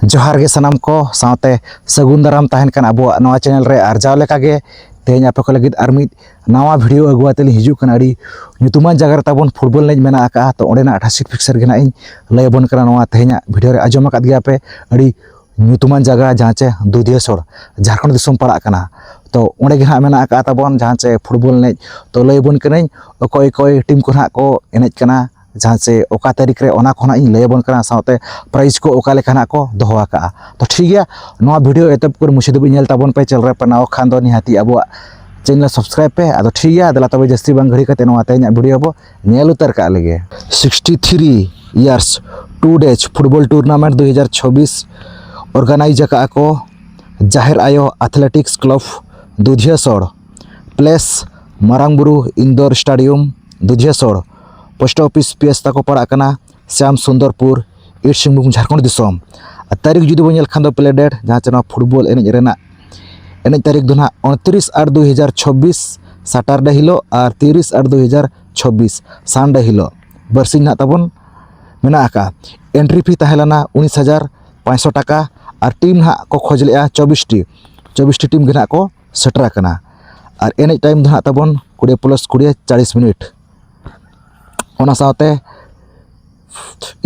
ᱡᱚᱦᱟᱨ ᱜᱮ ᱥᱟᱱᱟᱢ ᱠᱚ ᱥᱟᱶᱛᱮ ᱥᱟᱹᱜᱩᱱ ᱫᱟᱨᱟᱢ ᱛᱟᱦᱮᱱ ᱠᱟᱱ ᱟᱵᱚᱣᱟᱜ ᱱᱚᱣᱟ ᱪᱮᱱᱮᱞ ᱨᱮ ᱟᱨ ᱡᱟᱣ ᱞᱮᱠᱟᱜᱮ ᱛᱮᱦᱮᱧ ᱟᱯᱮ ᱠᱚ ᱞᱟᱹᱜᱤᱫ ᱟᱨ ᱢᱤᱫ ᱱᱟᱣᱟ ᱵᱷᱤᱰᱤᱭᱳ ᱟᱹᱜᱩ ᱟᱛᱮ ᱞᱤᱧ ᱦᱤᱡᱩᱜ ᱠᱟᱱᱟ ᱟᱹᱰᱤ ᱧᱩᱛᱩᱢᱟᱱ ᱡᱟᱭᱜᱟ ᱨᱮ ᱛᱟᱵᱚᱱ ᱯᱷᱩᱴᱵᱚᱞ ᱮᱱᱮᱡ ᱢᱮᱱᱟᱜ ᱟᱠᱟᱫᱼᱟ ᱛᱚ ᱚᱸᱰᱮᱱᱟᱜ ᱴᱷᱟᱥᱤᱠ ᱯᱷᱤᱠᱥᱟᱨ ᱜᱮ ᱱᱟᱜ ᱤᱧ ᱞᱟᱹᱭ ᱟᱵᱚᱱ ᱠᱟᱱᱟ ᱱᱚᱣᱟ ᱛᱮᱦᱮᱧᱟᱜ ᱵᱷᱤᱰᱤᱭᱳ ᱨᱮ ᱟᱸᱡᱚᱢ ᱟᱠᱟᱫ ᱜᱮᱭᱟ ᱯᱮ ᱟᱹᱰᱤ ᱧᱩᱛᱩᱢᱟᱱ ᱡᱟᱭᱜᱟ ᱡᱟᱦᱟᱸ ᱪᱮ ᱫᱩᱫᱷᱤᱭᱟᱹᱥᱚᱲ ᱡᱷᱟᱲᱠᱷᱚᱸᱰ ᱫᱤᱥᱚᱢ ᱯᱟᱲᱟᱜ ᱠᱟᱱᱟ ᱛᱚ ᱚᱸᱰᱮ ᱜᱮ ᱱᱟᱜ ᱢᱮᱱᱟᱜ ᱟᱠᱟᱫ ᱛᱟᱵᱚᱱ ᱡᱟᱦᱟᱸ ᱪᱮ ᱯᱷᱩᱴᱵᱚᱞ ᱮᱱᱮᱡ ᱛᱚ ᱞᱟᱹᱭ ᱟᱵᱚᱱ ᱠᱟᱹᱱᱟᱹᱧ ᱚᱠᱚᱭ ᱚᱠᱚᱭ ᱴᱤᱢ ᱠᱚ ᱱᱟᱜ ᱠᱚ ᱮᱱᱮᱡ ᱠᱟᱱᱟ ᱡᱟᱦᱟᱸ ᱪᱮ ᱚᱠᱟ ᱛᱟᱹᱨᱤᱠᱷ ᱨᱮ ᱚᱱᱟ ᱠᱚᱦᱚᱸ ᱤᱧ ᱞᱟᱹᱭᱟᱵᱚᱱ ᱠᱟᱱᱟ ᱥᱟᱶᱛᱮ ᱯᱨᱟᱭᱤᱡᱽ ᱠᱚ ᱚᱠᱟ ᱞᱮᱠᱟ ᱱᱟᱜ ᱠᱚ ᱫᱚᱦᱚ ᱟᱠᱟᱜᱼᱟ ᱛᱚ ᱴᱷᱤᱠ ᱜᱮᱭᱟ ᱱᱚᱣᱟ ᱵᱷᱤᱰᱤᱭᱳ ᱮᱛᱚᱦᱚᱵ ᱠᱷᱚᱱ ᱢᱩᱪᱟᱹᱫ ᱫᱷᱟᱹᱵᱤᱡ ᱧᱮᱞ ᱛᱟᱵᱚᱱ ᱯᱮ ᱪᱮᱱᱮᱞ ᱨᱮ ᱯᱟᱱᱟᱣ ᱠᱷᱟᱱ ᱫᱚ ᱱᱤᱦᱟᱹᱛᱤ ᱟᱵᱚᱣᱟᱜ ᱪᱮᱱᱮᱞ ᱥᱟᱵᱥᱠᱨᱟᱭᱤᱵ ᱯᱮ ᱟᱫᱚ ᱴᱷᱤᱠ ᱜᱮᱭᱟ ᱫᱮᱞᱟ ᱛᱚᱵᱮ ᱡᱟᱹᱥᱛᱤ ᱵᱟᱝ ᱜᱷᱟᱹᱲᱤ ᱠᱟᱛᱮ ᱱᱚᱣᱟ ᱛᱮᱦᱮᱧᱟᱜ ᱵᱷᱤᱰᱤᱭᱳ ᱵᱚ ᱧᱮᱞ ᱩᱛᱟᱹᱨ ᱠᱟᱜ ᱞᱮᱜᱮ sixty three years to date football tournament ᱫᱩ ᱦᱟᱡᱟᱨ ᱪᱷᱚᱵᱵᱤᱥ ᱚᱨᱜᱟᱱᱟᱭᱤᱡᱽ ᱟᱠᱟᱜᱼᱟ ᱠᱚ ᱡᱟᱦᱮᱨ ᱟᱭᱳ ᱟᱛᱷᱞᱮᱴᱤᱠᱥ ᱠᱞᱟᱵᱽ ᱫᱩᱫᱷᱭᱟᱹᱥᱚᱲ ᱯᱞᱮᱥ ᱢᱟᱨᱟᱝ ᱵᱩᱨᱩ ᱤᱱᱫᱳᱨ ᱥᱴᱟᱰᱤᱭᱟᱢ ᱫᱩᱫᱷᱭᱟᱹᱥᱚᱲ ᱯᱳᱥᱴ ᱚᱯᱷᱤᱥ ᱯᱤ ᱮᱥ ᱛᱟᱠᱚ ᱯᱟᱲᱟᱜ ᱠᱟᱱᱟ ᱥᱟᱢ ᱥᱩᱱᱫᱚᱨᱯᱩᱨ ᱤᱥᱴ ᱥᱤᱝᱵᱷᱩᱢ ᱡᱷᱟᱲᱠᱷᱚᱸᱰ ᱫᱤᱥᱚᱢ ᱟᱨ ᱛᱟᱹᱨᱤᱠᱷ ᱡᱩᱫᱤ ᱵᱚᱱ ᱧᱮᱞ ᱠᱷᱟᱱ ᱫᱚ ᱯᱞᱮ ᱰᱮᱴ ᱡᱟᱦᱟᱸ ᱪᱮ ᱱᱚᱣᱟ ᱯᱷᱩᱴᱵᱚᱞ ᱮᱱᱮᱡ ᱨᱮᱱᱟᱜ ᱮᱱᱮᱡ ᱛᱟᱹᱨᱤᱠᱷ ᱫᱚ ᱦᱟᱸᱜ ᱩᱱᱛᱨᱤᱥ ᱟᱴ ᱫᱩ ᱦᱟᱡᱟᱨ ᱪᱷᱚᱵᱵᱤᱥ ᱥᱟᱴᱟᱨᱰᱮ ᱦᱤᱞᱳᱜ ᱟᱨ ᱛᱤᱨᱤᱥ ᱟᱴ ᱫᱩ ᱦᱟᱡᱟᱨ ᱪᱷᱚᱵᱵᱤᱥ ᱥᱟᱱᱰᱮ ᱦᱤᱞᱳᱜ ᱵᱟᱨᱥᱤᱧ ᱦᱟᱸᱜ ᱛᱟᱵᱚᱱ ᱢᱮᱱᱟᱜ ᱟᱠᱟᱫᱼᱟ ᱮᱱᱴᱨᱤ ᱯᱷᱤ ᱛᱟᱦᱮᱸ ᱞᱮᱱᱟ ᱩᱱᱤᱥ ᱦᱟᱡᱟᱨ ᱯᱟᱸᱪᱥᱚ ᱴᱟᱠᱟ ᱟᱨ ᱴᱤᱢ ᱦᱟᱸᱜ ᱠᱚ ᱠᱷᱚᱡᱽ ᱞᱮᱫᱼᱟ ᱪᱚᱵᱵᱤᱥᱴᱤ ᱪᱚᱵᱵᱤᱥᱴᱤ ᱴᱤᱢ ᱜᱮ ᱦᱟᱸᱜ ᱠᱚ ᱥᱮᱴᱮᱨ ᱟᱠᱟᱱᱟ ᱟᱨ ᱮᱱᱮᱡ ᱴᱟᱭᱤᱢ ᱫᱚ ᱦᱟᱸᱜ ᱛᱟᱵᱚᱱ ᱠᱩᱲᱤ ᱯᱞᱟᱥ ᱠᱩᱲᱤ ᱪᱟᱞᱤᱥ ᱢᱤᱱᱤᱴ ᱚᱱᱟ ᱥᱟᱶᱛᱮ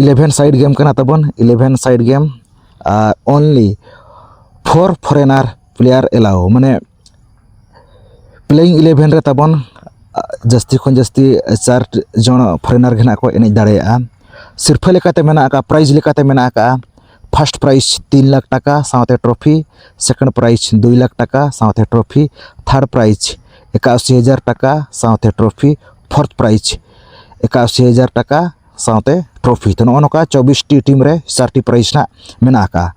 ᱤᱞᱮᱵᱷᱮᱱ ᱥᱟᱭᱤᱰ ᱜᱮᱢ ᱠᱟᱱᱟ ᱛᱟᱵᱚᱱ ᱤᱞᱮᱵᱷᱮᱱ ᱥᱟᱭᱤᱰ ᱜᱮᱢ ᱟᱨ only four foreigner player allow ᱢᱟᱱᱮ ᱯᱞᱮᱭᱤᱝ ᱤᱞᱮᱵᱷᱮᱱ ᱨᱮ ᱛᱟᱵᱚᱱ ᱡᱟᱹᱥᱛᱤ ᱠᱷᱚᱱ ᱡᱟᱹᱥᱛᱤ ᱪᱟᱨ ᱡᱚᱱ ᱯᱷᱚᱨᱮᱱᱟᱨ ᱜᱮ ᱱᱟᱦᱟᱜ ᱠᱚ ᱮᱱᱮᱡ ᱫᱟᱲᱮᱭᱟᱜᱼᱟ ᱥᱤᱨᱯᱟᱹ ᱞᱮᱠᱟᱛᱮ ᱢᱮᱱᱟᱜ ᱠᱟᱜᱼᱟ ᱯᱨᱟᱭᱤᱡᱽ ᱞᱮᱠᱟᱛᱮ ᱢᱮᱱᱟᱜ ᱠᱟᱜᱼᱟ ᱯᱷᱟᱥᱴ ᱯᱨᱟᱭᱤᱡᱽ ᱛᱤᱱ ᱞᱟᱠᱷ ᱴᱟᱠᱟ ᱥᱟᱶᱛᱮ ᱴᱨᱚᱯᱷᱤ ᱥᱮᱠᱮᱱᱰ ᱯᱨᱟᱭᱤᱡᱽ ᱫᱩᱭ ᱞᱟᱠᱷ ᱴᱟᱠᱟ ᱥᱟᱶᱛᱮ ᱴᱨᱚᱯᱷᱤ ᱛᱷᱟᱨᱰ ᱯᱨᱟᱭᱤᱡᱽ ᱮᱠᱟᱥᱤ ᱦᱟᱡᱟᱨ ᱴᱟᱠᱟ ᱥᱟᱶᱛᱮ ᱴᱨᱚᱯᱷᱤ ᱯᱷᱳᱨᱛᱷ ᱯᱨᱟᱭᱤᱡᱽ ᱮᱠᱟᱥᱤ ᱦᱟᱡᱟᱨ ᱴᱟᱠᱟ ᱥᱟᱶᱛᱮ ᱴᱨᱚᱯᱷᱤ ᱛᱚ ᱱᱚᱜᱼᱚ ᱱᱚᱝᱠᱟ ᱪᱚᱵᱵᱤᱥᱴᱤ ᱴᱤᱢ ᱨᱮ ᱪᱟᱨᱴᱤ ᱯᱨᱟᱭᱤᱡᱽ ᱦᱟᱸᱜ ᱢᱮᱱᱟᱜ ᱟᱠᱟᱫᱼᱟ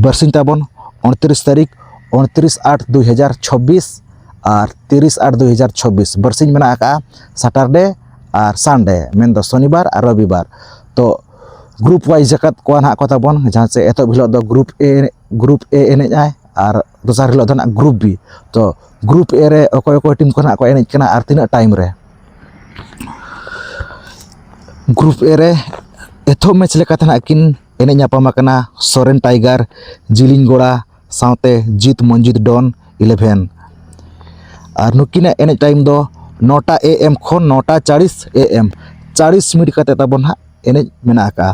ᱵᱟᱨᱥᱤᱧ ᱛᱟᱵᱚᱱ ᱩᱱᱛᱨᱤᱥ ᱛᱟᱹᱨᱤᱠᱷ ᱩᱱᱛᱨᱤᱥ ᱟᱴ ᱫᱩᱭ ᱦᱟᱡᱟᱨ ᱪᱷᱚᱵᱵᱤᱥ ᱟᱨ ᱛᱤᱨᱤᱥ ᱟᱴ ᱫᱩᱭ ᱦᱟᱡᱟᱨ ᱪᱷᱚᱵᱵᱤᱥ ᱵᱟᱨᱥᱤᱧ ᱢᱮᱱᱟᱜ ᱟᱠᱟᱫᱼᱟ ᱥᱟᱴᱟᱨᱰᱮ ᱟᱨ ᱥᱟᱱᱰᱮ ᱢᱮᱱᱫᱚ ᱥᱚᱱᱤᱵᱟᱨ ᱟᱨ ᱨᱚᱵᱤᱵᱟᱨ ᱛᱚ ᱜᱨᱩᱯ ᱳᱣᱟᱭᱤᱡᱽ ᱟᱠᱟᱫ ᱠᱚᱣᱟ ᱱᱟᱦᱟᱜ ᱠᱚ ᱛᱟᱵᱚᱱ ᱡᱟᱦᱟᱸ ᱪᱮ ᱮᱛᱚᱦᱚᱵ ᱦᱤᱞᱳᱜ ᱫᱚ ᱜᱨᱩᱯ ᱮ ᱜᱨᱩᱯ ᱮ ᱮᱱᱮᱡ ᱟᱭ ᱟᱨ ᱫᱚᱥᱟᱨ ᱦᱤᱞᱳᱜ ᱫᱚ ᱱᱟᱦᱟᱜ ᱜᱨᱩᱯ ᱵᱤ ᱛᱚ ᱜᱨᱩᱯ ᱮ ᱨᱮ ᱚᱠᱚᱭ ᱚᱠᱚᱭ ᱴᱤᱢ ᱠᱚ ᱱᱟᱦᱟᱜ ᱠᱚ ᱮᱱᱮᱡ ᱠᱟᱱᱟ ᱟᱨ ᱛᱤᱱᱟᱹᱜ ᱴᱟᱭᱤᱢ ᱨᱮ ᱜᱨᱩᱯ ᱮ ᱨᱮ ᱮᱛᱚᱦᱚᱵ ᱢᱮᱪ ᱞᱮᱠᱟᱛᱮ ᱱᱟᱦᱟᱜ ᱠᱤᱱ ᱮᱱᱮᱡ ᱧᱟᱯᱟᱢ ᱟᱠᱟᱱᱟ ᱥᱚᱨᱮᱱ ᱴᱟᱭᱜᱟᱨ ᱡᱤᱞᱤᱧ ᱜᱚᱲᱟ ᱥᱟᱶᱛᱮ ᱡᱤᱛ ᱢᱚᱱᱡᱤᱛ ᱰᱚᱱ ᱤᱞᱮᱵᱷᱮᱱ ᱟᱨ ᱱᱩᱠᱤᱱᱟᱜ ᱮᱱᱮᱡ ᱴᱟᱭᱤᱢ ᱫᱚ ᱱᱚᱴᱟ ᱮ ᱮᱢ ᱠᱷᱚᱱ ᱱᱚᱴᱟ ᱪᱟᱞᱤᱥ ᱮ ᱮᱢ ᱪᱟᱞᱤᱥ ᱢᱤᱱᱤᱴ ᱠᱟᱛᱮ ᱛᱟᱵᱚ ᱦᱟᱸᱜ ᱮᱱᱮᱡ ᱢᱮᱱᱟᱜ ᱟᱠᱟᱜᱼᱟ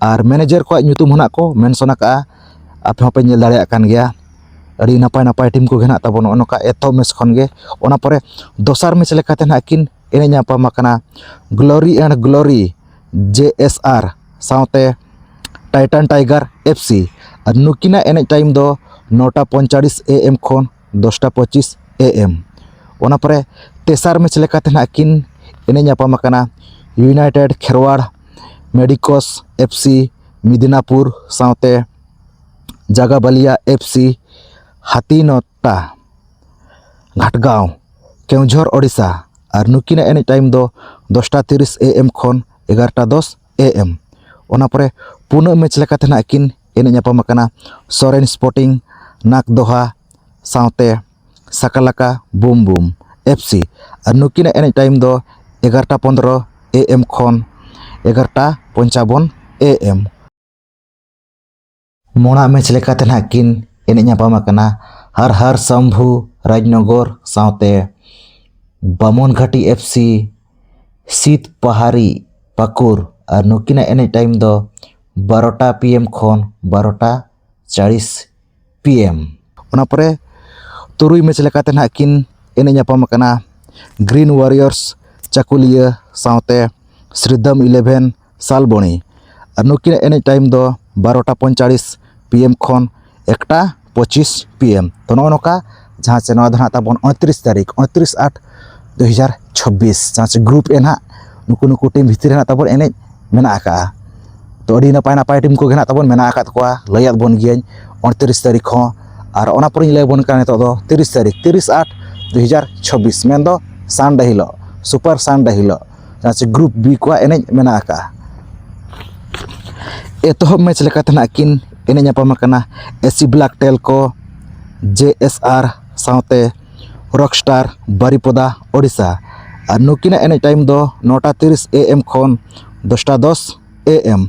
ᱟᱨ ᱢᱮᱱᱮᱡᱟᱨ ᱠᱚᱣᱟᱜ ᱧᱩᱛᱩᱢ ᱦᱚᱸ ᱦᱟᱸᱜ ᱠᱚ ᱢᱮᱱᱥᱚᱱ ᱟᱠᱟᱜᱼᱟ ᱟᱯᱮ ᱦᱚᱸᱯᱮ ᱧᱮᱞ ᱫᱟᱲᱮᱭᱟᱜ ᱠᱟᱱ ᱜᱮᱭᱟ ᱟᱹᱰᱤ ᱱᱟᱯᱟᱭ ᱱᱟᱯᱟᱭ ᱴᱤᱢ ᱠᱚᱜᱮ ᱦᱟᱸᱜ ᱛᱟᱵᱚᱱ ᱱᱚᱜᱼᱚ ᱱᱚᱝᱠᱟ ᱮᱛᱚᱦᱚᱵ ᱢᱮᱪ ᱠᱷᱚᱱ ᱜᱮ ᱚᱱᱟ ᱯᱚᱨᱮ ᱫᱚᱥᱟᱨ ᱢᱮᱪ ᱞᱮᱠᱟᱛᱮ ᱦᱟᱸᱜ ᱠᱤᱱ ᱮᱱᱮᱡ ᱧᱟᱯᱟᱢ ᱟᱠᱟᱱᱟ ᱜᱞᱳᱨᱤ ᱮᱱᱰ ᱜᱞᱳᱨᱤ ᱡᱮ ᱮᱥ ᱟᱨ ᱥᱟᱶᱛᱮ ᱴᱟᱭᱴᱟᱱ ᱴᱟᱭᱜᱟᱨ ᱮᱯᱷ ᱥᱤ ᱟᱨ ᱱᱩᱠᱤᱱᱟᱜ ᱮᱱᱮᱡ ᱴᱟᱭᱤᱢ ᱫᱚ ᱱᱚᱴᱟ ᱯᱚᱸᱭᱛᱟᱞᱞᱤᱥ ᱮ ᱮᱢ ᱠᱷᱚᱱ ᱫᱚᱥᱴᱟ ᱯᱚᱸᱪᱤᱥ ᱮ ᱮᱢ ᱚᱱᱟ ᱯᱚᱨᱮ ᱛᱮᱥᱟᱨ ᱢᱮᱪ ᱞᱮᱠᱟᱛᱮ ᱦᱟᱸᱜ ᱠᱤᱱ ᱮᱱᱮᱡ ᱧᱟᱯᱟᱢ ᱟᱠᱟᱱᱟ united Kherwar medicos F C Midnapur ᱥᱟᱶᱛᱮ ᱡᱟᱜᱟᱵᱟᱞᱤᱭᱟ ᱮᱯᱷ ᱥᱤ ᱦᱟᱹᱛᱤᱱᱚᱛ ᱴᱟ ᱜᱷᱟᱴᱜᱟᱶ ᱠᱮᱣᱡᱷᱚᱨ ᱳᱰᱤᱥᱟ ᱟᱨ ᱱᱩᱠᱤᱱᱟᱜ ᱮᱱᱮᱡ ᱴᱟᱭᱤᱢ ᱫᱚ ᱫᱚᱥᱴᱟ ᱛᱤᱨᱤᱥ ᱮ ᱮᱢ ᱠᱷᱚᱱ ᱮᱜᱟᱨᱚᱴᱟ ᱫᱚᱥ ᱮ ᱮᱢ ᱚᱱᱟ ᱯᱚᱨᱮ ᱯᱩᱱᱟᱹᱜ ᱢᱮᱪ ᱞᱮᱠᱟᱛᱮ ᱱᱟᱦᱟᱜ ᱠᱤᱱ ᱮᱱᱮᱡ ᱧᱟᱯᱟᱢ ᱟᱠᱟᱱᱟ ᱥᱚᱨᱮᱱ ᱥᱯᱳᱨᱴᱤᱝ ᱱᱟᱜᱽ ᱫᱚᱦᱟ ᱥᱟᱶᱛᱮ ᱥᱟᱠᱟᱞᱟᱠᱟ ᱵᱩᱢ ᱵᱩᱢ ᱮᱯᱷ ᱥᱤ ᱟᱨ ᱱᱩᱠᱤᱱᱟᱜ ᱮᱱᱮᱡ ᱴᱟᱭᱤᱢ ᱫᱚ ᱮᱜᱟᱨᱚᱴᱟ ᱯᱚᱸᱫᱽᱨᱚ ᱮ ᱮᱢ ᱠᱷᱚᱱ ᱮᱜᱟᱨᱚᱴᱟ ᱯᱚᱧᱪᱟᱵᱚᱱ ᱮ ᱮᱢ ᱢᱚᱬᱟᱜ ᱢᱮᱪ ᱞᱮᱠᱟᱛᱮ ᱱᱟᱦᱟᱜ ᱠᱤᱱ ᱮᱱᱮᱡ ᱧᱟᱯᱟᱢ ᱟᱠᱟᱱᱟ ᱦᱟᱨ ᱦᱟᱨ ᱥᱟᱢᱵᱷᱩ ᱨᱟᱡᱽᱱᱚᱜᱚᱨ ᱥᱟᱶᱛᱮ ᱵᱟᱢᱚᱱ ᱜᱷᱟᱴᱤ ᱮᱯᱷ ᱥᱤ ᱥᱤᱛ ᱯᱟᱦᱟᱨᱤ ᱯᱟᱠᱩᱨ ᱟᱨ ᱱᱩᱠᱤᱱᱟᱜ ᱮᱱᱮᱡ ᱴᱟᱭᱤᱢ ᱫᱚ ᱵᱟᱨᱚᱴᱟ ᱯᱤ ᱮᱢ ᱠᱷᱚᱱ ᱵᱟᱨᱚᱴᱟ ᱪᱟᱲᱤᱥ ᱯᱤ ᱮᱢ ᱚᱱᱟ ᱯᱚᱨᱮ ᱛᱩᱨᱩᱭ ᱢᱮᱪ ᱞᱮᱠᱟᱛᱮ ᱱᱟᱦᱟᱜ ᱠᱤᱱ ᱮᱱᱮᱡ ᱧᱟᱯᱟᱢ ᱟᱠᱟᱱᱟ ᱜᱨᱤᱱ ᱳᱣᱟᱨᱤᱭᱚᱨᱥ ᱪᱟᱹᱠᱩᱞᱤᱭᱟᱹ ᱥᱟᱶᱛᱮ ᱥᱨᱤᱫᱚᱢ ᱤᱞᱮᱵᱷᱮᱱ ᱥᱟᱞᱵᱚᱱᱤ ᱟᱨ ᱱᱩᱠᱤᱱᱟᱜ ᱮᱱᱮᱡ ᱴᱟᱭᱤᱢ ᱫᱚ ᱵᱟᱨᱚᱴᱟ ᱯᱚᱸᱭᱛᱟᱞᱞᱤᱥ ᱯᱤ ᱮᱢ ᱠᱷᱚᱱ ᱮᱠᱴᱟ ᱯᱚᱸᱪᱤᱥ ᱯᱤ ᱮᱢ ᱛᱚ ᱱᱚᱜᱼᱚᱸᱭ ᱱᱚᱝᱠᱟ ᱡᱟᱦᱟᱸ ᱪᱮ ᱱᱚᱣᱟ ᱫᱚ ᱦᱟᱸᱜ ᱛᱟᱵᱚᱱ ᱩᱱᱛᱨᱤᱥ ᱛᱟᱹᱨᱤᱠᱷ ᱩᱱᱛᱨᱤᱥ ᱟᱴ ᱫᱩ ᱦᱟᱡᱟᱨ ᱪᱷᱚᱵᱵᱤᱥ ᱡᱟᱦᱟᱸ ᱪᱮ ᱜᱨᱩᱯ ᱮ ᱦᱟᱸᱜ ᱱᱩᱠᱩ ᱱᱩᱠᱩ ᱴᱤᱢ ᱵᱷᱤᱛᱨᱤ ᱨᱮ ᱦᱟᱸᱜ ᱛᱟᱵᱚᱱ ᱮᱱᱮᱡ ᱢᱮᱱᱟᱜ ᱟᱠᱟᱜᱼᱟ ᱛᱚ ᱟᱹᱰᱤ ᱱᱟᱯᱟᱭ ᱱᱟᱯᱟᱭ ᱴᱤᱢ ᱠᱚᱜᱮ ᱦᱟᱸᱜ ᱛᱟᱵᱚᱱ ᱢᱮᱱᱟᱜ ᱟᱠᱟᱫ ᱠᱚᱣᱟ ᱞᱟᱹᱭᱟᱜ ᱵᱚᱱ ᱜᱤᱭᱟᱹᱧ ᱩᱱᱛᱨᱤᱥ ᱛᱟᱹᱨᱤᱠᱷ ᱦᱚᱸ ᱟᱨ ᱚᱱᱟ ᱯᱚᱨᱮᱧ ᱞᱟᱹᱭ ᱟᱵᱚᱱ ᱠᱟᱱᱟ ᱱᱤᱛᱚᱜ ᱫᱚ ᱛᱤᱨᱤᱥ ᱛᱟᱹᱨᱤᱠᱷ ᱛᱤᱨᱤᱥ ᱟᱴ ᱫᱩ ᱦᱟᱡᱟᱨ ᱪᱷᱚᱵᱵᱤᱥ ᱢᱮᱱᱫᱚ ᱥᱟᱱᱰᱮ ᱦᱤᱞᱳᱜ ᱥᱩᱯᱟᱨ ᱥᱟᱱᱰᱮ ᱦᱤᱞᱳᱜ ᱡᱟᱦᱟᱸ ᱥᱮ ᱜᱨᱩᱯ ᱵᱤ ᱠᱚᱣᱟᱜ ᱮᱱᱮᱡ ᱢᱮᱱᱟᱜ ᱟᱠᱟᱫᱼᱟ ᱮᱛᱚᱦᱚᱵ ᱢᱮᱪ ᱞᱮᱠᱟᱛᱮ ᱱᱟᱦᱟᱜ ᱠᱤᱱ ᱮᱱᱮᱡ ᱧᱟᱯᱟᱢ ᱟᱠᱟᱱᱟ ᱮᱥᱤ ᱵᱞᱟᱠ ᱴᱮᱞ ᱠᱚ ᱡᱮ ᱮᱥ ᱟᱨ ᱥᱟᱶᱛᱮ ᱨᱚᱠ ᱥᱴᱟᱨ ᱵᱟᱨᱤᱯᱚᱫᱟ ᱳᱰᱤᱥᱟ ᱟᱨ ᱱᱩᱠᱤᱱᱟᱜ ᱮᱱᱮᱡ ᱴᱟᱭᱤᱢ ᱫᱚ ᱱᱚᱴᱟ ᱛᱤᱨᱤᱥ ᱮ ᱮᱢ ᱠᱷᱚᱱ ᱫᱚᱥᱴᱟ ᱫᱚᱥ ᱮ ᱮᱢ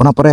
ᱚᱱᱟ ᱯᱚᱨᱮ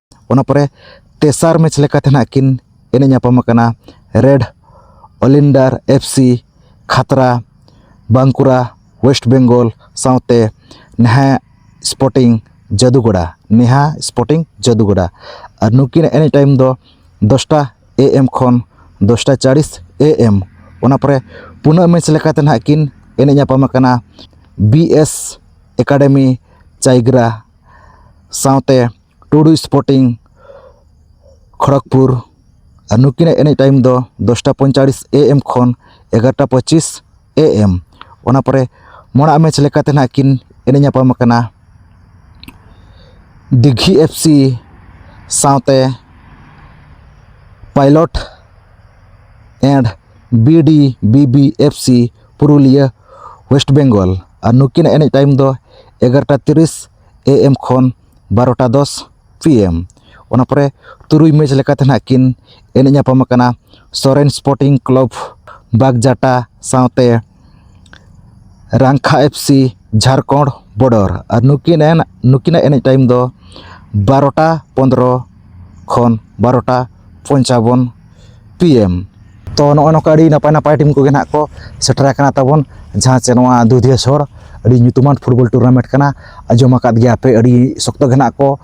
ᱚᱱᱟ ᱯᱚᱨᱮ ᱛᱮᱥᱟᱨ ᱢᱮᱪ ᱞᱮᱠᱟᱛᱮ ᱱᱟᱦᱟᱜ ᱠᱤᱱ ᱮᱱᱮᱡ ᱧᱟᱯᱟᱢ ᱟᱠᱟᱱᱟ red oleander F C Khatra Bankura west Bengal ᱥᱟᱶᱛᱮ ᱱᱮᱦᱟ ᱥᱯᱳᱨᱴᱤᱝ ᱡᱟᱹᱫᱩᱜᱚᱲᱟ ᱱᱮᱦᱟ ᱥᱯᱳᱨᱴᱤᱝ ᱡᱟᱹᱫᱩᱜᱚᱲᱟ ᱟᱨ ᱱᱩᱠᱤᱱᱟᱜ ᱮᱱᱮᱡ ᱴᱟᱭᱤᱢ ᱫᱚ ᱫᱚᱥᱴᱟ ᱮ ᱮᱢ ᱠᱷᱚᱱ ᱫᱚᱥᱴᱟ ᱪᱟᱞᱤᱥ ᱮ ᱮᱢ ᱚᱱᱟ ᱯᱚᱨᱮ ᱯᱩᱱᱟᱜ ᱢᱮᱪ ᱞᱮᱠᱟᱛᱮ ᱱᱟᱦᱟᱜ ᱠᱤᱱ ᱮᱱᱮᱡ ᱧᱟᱯᱟᱢ ᱟᱠᱟᱱᱟ ᱵᱤ ᱮᱥ ᱮᱠᱟᱰᱮᱢᱤ ᱪᱟᱭᱜᱨᱟ ᱥᱟᱶᱛᱮ ᱴᱩᱰᱩ ᱥᱯᱳᱨᱴᱤᱝ ᱠᱷᱚᱲᱚᱜᱽᱯᱩᱨ ᱟᱨ ᱱᱩᱠᱤᱱᱟᱜ ᱮᱱᱮᱡ ᱴᱟᱭᱤᱢ ᱫᱚ ᱫᱚᱥᱴᱟ ᱯᱚᱸᱭᱛᱟᱞᱞᱤᱥ ᱮ ᱮᱢ ᱠᱷᱚᱱ ᱮᱜᱟᱨᱚᱴᱟ ᱯᱚᱸᱪᱤᱥ ᱮ ᱮᱢ ᱚᱱᱟ ᱯᱚᱨᱮ ᱢᱟᱲᱟᱝ ᱢᱮᱪ ᱞᱮᱠᱟᱛᱮ ᱦᱟᱸᱜ ᱠᱤᱱ ᱮᱱᱮᱡ ᱧᱟᱯᱟᱢ ᱠᱟᱱᱟ ᱫᱤᱜᱷᱤ ᱮᱯᱷ ᱥᱤ ᱥᱟᱶᱛᱮ pilot and B D B B F C Purulia West Bengal ᱟᱨ ᱱᱩᱠᱤᱱᱟᱜ ᱮᱱᱮᱡ ᱴᱟᱭᱤᱢ ᱫᱚ ᱮᱜᱟᱨᱚᱴᱟ ᱛᱤᱨᱤᱥ ᱮ ᱮᱢ ᱠᱷᱚᱱ ᱵᱟᱨᱚᱴᱟ ᱫᱚᱥ ᱯᱤ ᱮᱢ ᱚᱱᱟ ᱯᱚᱨᱮ ᱛᱩᱨᱩᱭ ᱢᱮᱪ ᱞᱮᱠᱟᱛᱮ ᱦᱟᱸᱜ ᱠᱤᱱ ᱮᱱᱮᱡ ᱧᱟᱯᱟᱢ ᱠᱟᱱᱟ ᱥᱚᱨᱮᱱ ᱥᱯᱳᱨᱴᱤᱝ ᱠᱞᱟᱵᱽ ᱵᱟᱜᱽᱡᱟᱴᱟ ᱥᱟᱶᱛᱮ ᱨᱟᱝᱠᱷᱟ ᱮᱯᱷ ᱥᱤ ᱡᱷᱟᱲᱠᱷᱚᱸᱰ ᱵᱚᱰᱚᱨ ᱟᱨ ᱱᱩᱠᱤᱱ ᱨᱮᱱ ᱱᱩᱠᱤᱱᱟᱜ ᱮᱱᱮᱡ ᱴᱟᱭᱤᱢ ᱫᱚ ᱵᱟᱨᱚᱴᱟ ᱯᱚᱸᱫᱽᱨᱚ ᱠᱷᱚᱱ ᱵᱟᱨᱚᱴᱟ ᱯᱚᱧᱪᱟᱵᱚᱱ ᱯᱤ ᱮᱢ ᱛᱚ ᱱᱚᱜᱼᱚᱭ ᱱᱚᱝᱠᱟ ᱟᱹᱰᱤ ᱱᱟᱯᱟᱭ ᱱᱟᱯᱟᱭ ᱴᱤᱢ ᱠᱚᱜᱮ ᱱᱟᱦᱟᱜ ᱠᱚ ᱥᱮᱴᱮᱨ ᱟᱠᱟᱱᱟ ᱛᱟᱵᱚᱱ ᱡᱟᱦᱟᱸ ᱪᱮ ᱱᱚᱣᱟ ᱫᱩᱫᱷᱤᱭᱟᱹ ᱥᱚᱦᱚᱨ ᱟᱹᱰᱤ ᱧᱩᱛᱩᱢᱟᱱ ᱯᱷᱩᱴᱵᱚᱞ ᱴᱩᱨᱱᱟᱢᱮᱱᱴ ᱠᱟᱱᱟ ᱟᱸᱡᱚᱢ ᱟᱠᱟᱫ ᱜᱮᱭᱟ ᱯᱮ ᱟᱹᱰᱤ ᱥᱚᱠᱛᱚ ᱜᱮ ᱱᱟᱦᱟᱜ ᱠᱚ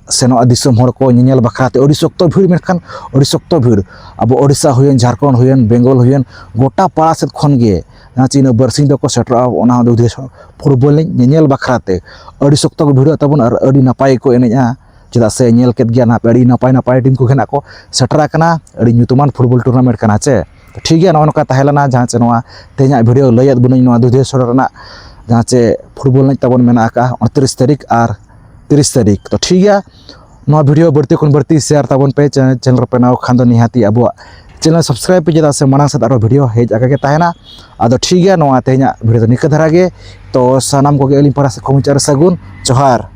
ᱥᱮᱱᱚᱜᱼᱟ ᱫᱤᱥᱚᱢ ᱦᱚᱲ ᱠᱚ ᱧᱮᱧᱮᱞ ᱵᱟᱠᱷᱨᱟ ᱛᱮ ᱟᱹᱰᱤ ᱥᱚᱠᱛᱚ ᱵᱷᱤᱲ ᱢᱮᱱᱠᱷᱟᱱ ᱟᱹᱰᱤ ᱥᱚᱠᱛᱚ ᱵᱷᱤᱲ ᱟᱵᱚ ᱳᱰᱤᱥᱟ ᱦᱩᱭᱮᱱ ᱡᱷᱟᱲᱠᱷᱚᱸᱰ ᱦᱩᱭᱮᱱ ᱵᱮᱝᱜᱚᱞ ᱦᱩᱭᱮᱱ ᱜᱳᱴᱟ ᱯᱟᱲᱟ ᱥᱮᱫ ᱠᱷᱚᱱ ᱜᱮ ᱡᱟᱦᱟᱸ ᱪᱮ ᱤᱱᱟᱹ ᱵᱟᱹᱨᱥᱤᱧ ᱫᱚᱠᱚ ᱥᱮᱴᱮᱨᱚᱜᱼᱟ ᱚᱱᱟ ᱦᱚᱸ ᱫᱩᱫᱷᱤᱭᱟᱹ ᱥᱚᱦᱚᱨ ᱯᱷᱩᱴᱵᱚᱞ ᱮᱱᱮᱡ ᱧᱮᱧᱮᱞ ᱵᱟᱠᱷᱨᱟ ᱛᱮ ᱟᱹᱰᱤ ᱥᱚᱠᱛᱚ ᱠᱚ ᱵᱷᱤᱲᱚᱜ ᱛᱟᱵᱚᱱ ᱟᱨ ᱟᱹᱰᱤ ᱱᱟᱯᱟᱭ ᱜᱮᱠᱚ ᱮᱱᱮᱡᱼᱟ ᱪᱮᱫᱟᱜ ᱥᱮ ᱧᱮᱞ ᱠᱮᱫ ᱜᱮᱭᱟ ᱱᱟᱦᱟᱜ ᱟᱹᱰᱤ ᱱᱟᱯᱟᱭ ᱱᱟᱯᱟᱭ ᱴᱤᱢ ᱠᱚᱜᱮ ᱱᱟᱦᱟᱜ ᱠᱚ ᱥᱮᱴᱮᱨ ᱟᱠᱟᱱᱟ ᱟᱹᱰᱤ ᱧᱩᱛᱩᱢᱟᱱ ᱯᱷᱩᱴᱵᱚᱞ ᱴᱩᱨᱱᱟᱢᱮᱱᱴ ᱠᱟᱱᱟ ᱪᱮ ᱴᱷᱤᱠ ᱜᱮᱭᱟ ᱱᱚᱜᱼᱚ ᱱᱚᱝᱠᱟ ᱛᱟᱦᱮᱸ ᱞᱮᱱᱟ ᱡᱟᱦᱟᱸ ᱪᱮ ᱱᱚᱣᱟ ᱛᱮᱦᱮᱧᱟᱜ ᱵᱷᱤᱰᱭᱳ ᱞᱟᱹᱭᱟᱫ ᱵᱚᱱᱟᱹᱧ ᱱᱚᱣᱟ ᱫᱩᱫᱷᱤᱭᱟᱹ ᱥᱚᱲᱚ ᱨᱮᱱᱟᱜ ᱡᱟᱦᱟᱸ ᱪᱮ ᱯᱷᱩᱴᱵᱚᱞ ᱮᱱᱮᱡ ᱛᱟᱵᱚᱱ ᱢᱮᱱᱟᱜ ᱟᱠᱟᱫᱼᱟ ᱩᱱᱛᱨᱤᱥ ᱛᱟᱹᱨᱤᱠᱷ ᱟᱨ ᱛᱤᱨᱤᱥ ᱛᱟᱹᱨᱤᱠᱷ ᱛᱚ ᱴᱷᱤᱠ ᱜᱮᱭᱟ ᱱᱚᱣᱟ ᱵᱷᱤᱰᱭᱳ ᱵᱟᱹᱲᱛᱤ ᱠᱷᱚᱱ ᱵᱟᱹᱲᱛᱤ ᱥᱮᱭᱟᱨ ᱛᱟᱵᱚᱱ ᱯᱮ ᱪᱮᱱᱮᱞ ᱨᱮᱯᱮ ᱱᱟᱣ ᱠᱷᱟᱱ ᱫᱚ ᱱᱤᱦᱟᱹᱛᱤ ᱟᱵᱚᱣᱟᱜ ᱪᱮᱱᱮᱞ ᱥᱟᱵᱥᱠᱨᱟᱭᱤᱵ ᱯᱮ ᱪᱮᱫᱟᱜ ᱥᱮ ᱢᱟᱲᱟᱝ ᱥᱮᱫ ᱟᱨᱚ ᱵᱷᱤᱰᱭᱳ ᱦᱮᱡ ᱟᱠᱟ ᱜᱮ ᱛᱟᱦᱮᱱᱟ ᱟᱫᱚ ᱴᱷᱤᱠ ᱜᱮᱭᱟ ᱱᱚᱣᱟ ᱛᱮᱦᱮᱧᱟᱜ ᱵᱷᱤᱰᱭᱳ ᱫᱚ ᱱᱤᱝᱠᱟᱹ ᱫᱷᱟᱨᱟ ᱜᱮ ᱛᱚ ᱥᱟᱱᱟᱢ ᱠᱚᱜᱮ ᱟᱹᱞᱤᱧ ᱯᱟᱦᱴᱟ ᱥᱮᱫ ᱠᱷᱚᱱ ᱢᱩᱪᱟᱹᱫ ᱨᱮ ᱥᱟᱹᱜᱩᱱ ᱡᱚᱦᱟᱨ